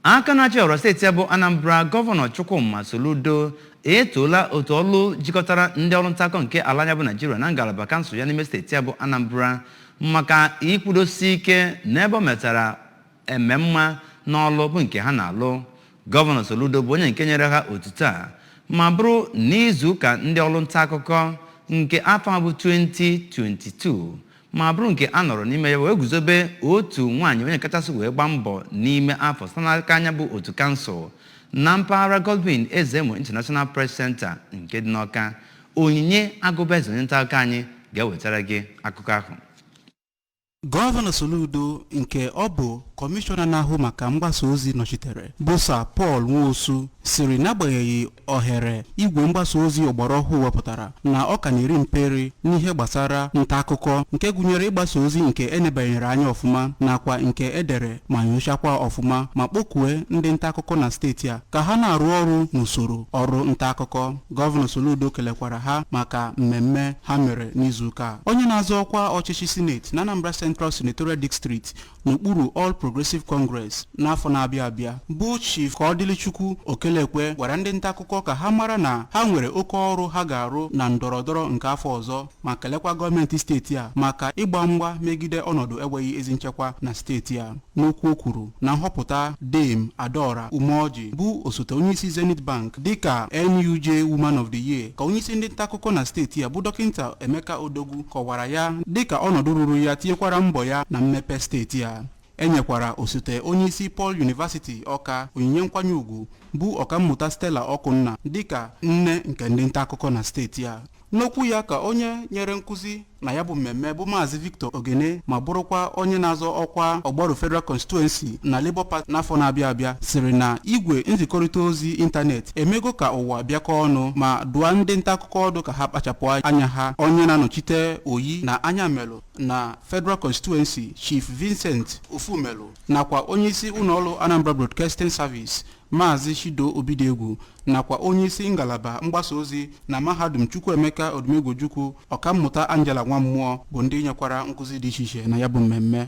Aka na-achị ọra steeti a bụ Anambra Gọvanọ Chukwuma Soludo etoola otu ọlụ jikọtara ndị ọrụ nta akụkọ nke ala anyị a bụ Naijiria na ngalaba kansụl ya n'ime steeti a bụ Anambra maka ikwudosi ike n'ebe o metara eme mma n'ọlụ bụ nke ha na-alụ. Gọvanọ Soludo bụ onye nke nyere ha otuto a ma bụrụ n'izu ụka ndị ọrụ nta akụkọ nke afọ a bụ 2022 ma bụrụ nke a nọrọ n'ime ya wee guzobe otu nwaanyị onye kachasị wee gbaa mbọ n'ime afọ site n'aka nya bụ otu kansụl na mpaghara Godwin Ezemo International Press Center nke dị n'Ọka Onyinye Agụbaeze onye nta akụkọ anyị ga-ewetara gị akụkọ ahụ gọvanọ soludo nke ọ bụ kọmishọna na-ahụ maka mgbasa ozi nọchitere bụ Sir Paul Nwosu sịrị n'agbanyeghị ohere igwe mgbasa ozi ọgbara ọhụụ wepụtara na ọ ka na-eri mperi n'ihe gbasara nta akụkọ nke gụnyere ịgbasa ozi nke e nebanyere anya ọfụma nakwa nke e dere ma nyochakwa ọfụma ma kpọkue ndị nta akụkọ na steeti a ka ha na-arụ ọrụ n'usoro ọrụ nta akụkọ gọvanọ Soludo kelekwara ha maka mmemme ha mere n'izuụka a. onye na-azọ ọkwa ọchịchị sineti na Anambra Central Senatorial District n'okpuru All Progressive Congress n'afọ na-abịa abịa bụ Chief Kaọdịlịchukwu Okelekwe gwara ndị nta akụkọ ka ha mara na ha nwere oke ọrụ ha ga-arụ na ndọrọndọrọ nke afọ ọzọ ma kelekwa gọọmenti steeti a maka ịgba mgba megide ọnọdụ enweghị ezi nchekwa na steeti a n'okwu o kwuru na nhọpụta Dame Adaora Umeoji bụ osote onyeisi Zenith Bank dịka NUJ Woman of the Year ka onyeisi ndị nta akụkọ na steeti a bụ dọkịta Emeka Odogwu kọwara ya dịka ọnọdụ ruru ya tinyekwara mbọ ya na mmepe steeti a e nyekwara osote onyeisi Paul University Ọka onyinye nkwanye ugwu bụ ọkammụta Stella Ọkụnna dịka nne nke ndị nta akụkọ na steeti a n'okwu ya ka onye nyere nkụzi na ya bụ mmemme bụ maazị Victor Ogene ma bụrụkwa onye na-azọ ọkwa Ogbaru Federal Constituency na Labour Party n'afọ na-abịa abịa sịrị na igwe nzikọrịta ozi ịntanetị emego ka ụwa bịakọ ọnụ ma dụọ ndị nta akụkọ ọdụ ka ha kpachapụ anya ha onye na-anọchite Oyi na Ayamelum na Federal Constituency Chief Vincent Ofumelụ nakwa onyeisi ụlọọrụ Anambra Broadcasting Service Maazị Chido Obidiegwu nakwa onyeisi ngalaba mgbasa ozi na mahadum Chukwuemeka Odumegwu Ojukwu ọkammụta Angela Nwammụọ bụ ndị nyekwara nkụzi dị iche iche na ya bụ mmemme